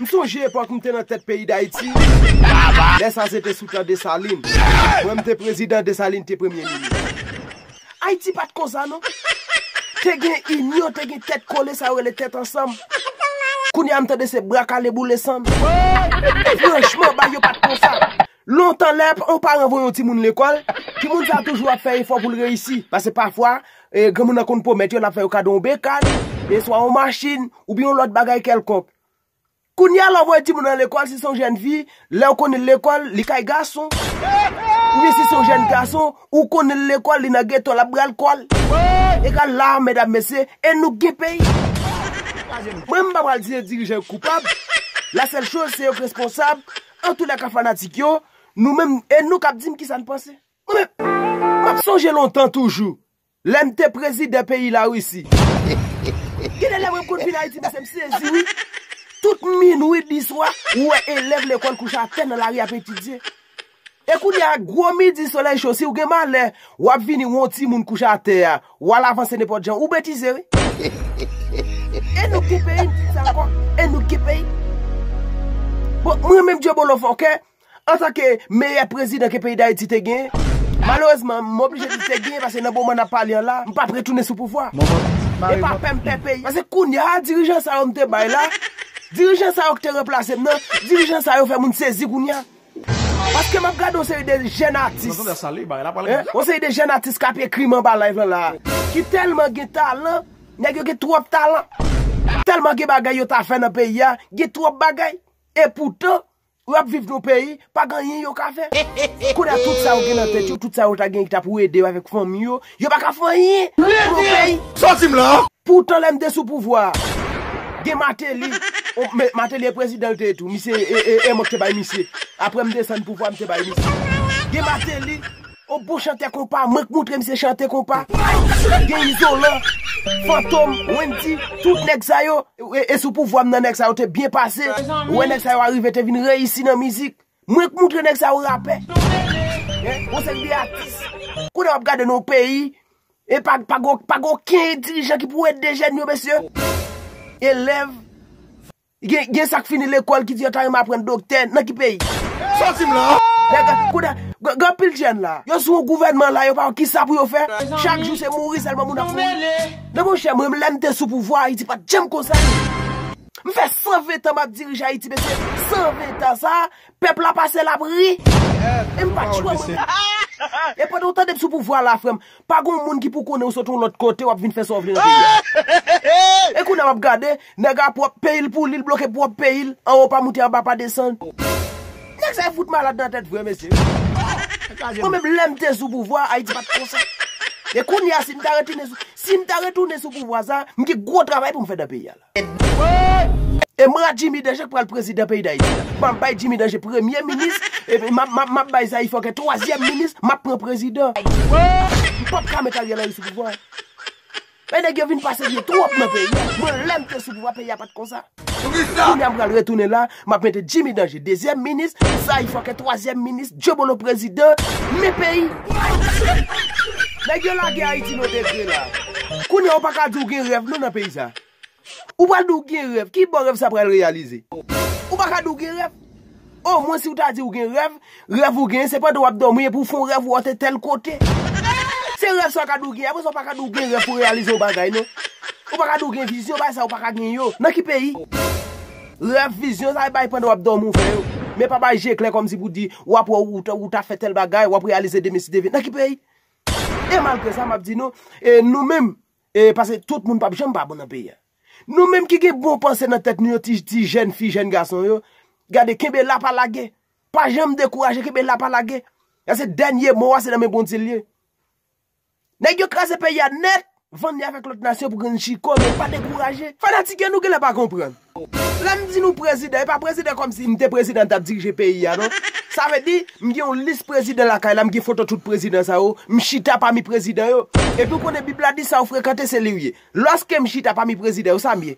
M sonje epòk m te nan tèt peyi Dayiti, lè sa se te sou tan Desalin. Mwen m te prezidan, Desalin te premye minis. Ayiti pat konsa non. Te gen inyon, te gen tèt kole sa yo rele tèt ansanm. Kounye a m tande se bra kale boule sann. Franchman bay yo pat konsa. Lontan lè yon paran voye yon timoun lekòl, timoun sa toujou ap fè efò pou l reyisi. Pase pafwa, granmoun nan konn pwomèt yo l ap fè yo kado yon bekad, swa yon machin, oubyen yon lòt bagay kèlkonk. Kounya lè w voye timoun nan lekòl si se yon jèn fi, lè ou konnen l lekòl li kay gason, oubyen si se yon jèn gason ou konnen l lekòl li nan geto l ap bal kòl. Egal la medam mesye e nou k gen peyi. Mwen m pa pral di se dirijan yo k koupab, la sèl choz se yo k responsab, antoulèka fanatik yo, nou menm e nou k ap di m kisa n panse. Mwen menm, m ap sonje lontan toujou, Lèm te prezidan peyi la Russie. Gen de lè mwen konn vin ayiti mesye m sezi wi. Tout minwi di swa ou wè elèv lekòl kouche atè nan lari ap etidye. E kounye a gwo midi solèy cho si ou gen malè wap vini wè yon timoun kouche atè a wal avanse nenpòt jan ou betize wi. E nou k gen peyi m di sa ankò e nou k gen peyi. Bon mwen menm dyebolo fòkè Antanke meyè prezidan ke peyi Dayiti te genyen, malerezman m oblije di te genyen pase nan moman n ap pale an la, m p ap retounen sou pouvwa. E pa pè m pè peyi. Pase kounya a dirijan sa yo m te bay la, dirijan sa yo ki te ranplase m nan, dirijan sa yo fè moun sezi kounya. Paske m ap gade yon seri de jèn atis, yon seri de jèn atis k ap ekri m anba live lan la a, ki tèlman gen talan, nèg yo gen twòp talan, tèlman gen bagay yo ta fè nan peyi a, gen twòp bagay. E poutan. Yo ap viv nou peyi, pa gen anyen yo ka fè. Kounye a tout sa yo gen nan tèt yo, tout sa yo ta gen ki ta pou ede yo avèk fanmi yo, yo pa ka fè anyen pou nou peyi. Sòti m la! Poutan lè m te sou pouvwa a, gen Mateli, on, men Mateli e prezidan l te ye tou, misye e, e, e mwen k te bay misye. Aprè m desann pouvwa a m te bay misye. Gen Mateli. On bon chantè konpa mwen k moutre misye chante konpa gen izolan fantom wendy tout nèg sa yo e sou pouvwa m nan nèg sa yo te byen pase ou wè nèg sa yo arive te vin reyisi nan mizik mwen k moutre nèg sa yo rapè on seri de atis kounye a wap gade nan peyi e pa pa gen okenn dirijan ki pou ede jèn yo mesye elèv Gen sak fini lekol ki di yo ta renmen aprann doktè nan ki peyi? Sotim la! Kounye a, gen anpil jèn la, yo sou yon gouvènman la yo pa wè kisa pou yo fè, chak jou se mouri sèlman moun ap mouri. Men monchè mwen menm lèm te sou pouvwa Ayiti pat janm konsa. M fè 120 tan map dirije Ayiti mesye, 120 tan sa, pèp la pase lap ri. E m pat chwa mwen menm. E pandan w tande m sou pouvwa la frè m, Pa gon moun ki pou konnen ou sot yon lòt kote wap vin fè sa w vle nan peyi a. E kounye a wap gade, nèg a pwòp peyi l pou li, l bloke pwòp peyi l, anwo pa moute anba pa desann. Nèg sa yo fout malad nan tèt vre mesye. Mwen menm lè m te sou pouvwa a, Ayiti pa t konsa. E kounye a si m ta retounen sou pouvwa sa a, m gen gwo travay pou m fè nan peyi a. E m ra Jimmy Danger k pral prezidan peyi Dayiti a. M ap bay Jimmy Danger premye minis, epi m ap bay Zaï Fòkè twazyèm minis, m ap pran prezidan. M p ap ka met Ariel Henry sou pouvwa a. E nèg yo vin pa serye twòp nan peyi a. Mwen lè m te sou pouvwa peyi a pa t konsa. Kounya m pral retounen la. Map mete Jimmy danje dezyèm minis Saï fòkè twazyèm minis Dyobolo prezidan men peyi Nèg yo lage Haïti nou te vle la Kounye a ou paka di ou gen rèv non nan peyi sa Ou pral di ou gen rèv kibò rèv sa pral reyalize Ou paka di ou gen rèv O mwen si ou ta di ou gen rèv Rèv ou genyen se pandan wap dòmi epi ou fon rèv ou antre tèl kote. Se rèv sa ou ka di ou genyen apre sa ou pa ka di ou gen rèv pou reyalize yon bagay non. Ou pa ka di ou gen vizyon bagay sa ou pa ka gen yo. Nan ki peyi? Rèv, vizyon sa e bagay pandan wap dòmi ou fè yo. Men pa bay je klè kòm si pou di ou ap wè ou ta fè tèl bagay, wap reyalize demen si demen. Nan ki peyi? E malgre sa map di nou, e nou menm, e pase tout moun pap janm pa bon nan peyi a. Nou menm ki gen bon panse nan tèt nou yo ti jèn fi, jèn gason yo, gade kenbe la pa lage. Pa janm dekouraje kenbe la pa lage. Pase dènye mo a se nan men Bondye li ye. Nèg yo kraze peyi a nèt, vann li avèk lòt nasyon pou grenn chiko men pa dekouraje. Fanatik yo nou genlè pa konprann. Lè m di nou prezidan, e pa prezidan kòmsi m te prezidan m t ap dirije peyi a non. Sa vle di, m gen yon lis prezidan lakay la, m gen foto tout prezidan sa yo, m chita pami prezidan yo. Epi ou konnen bib la di sa ou frekante se li ou ye. Lòske m chita pami prezidan yo sa m ye?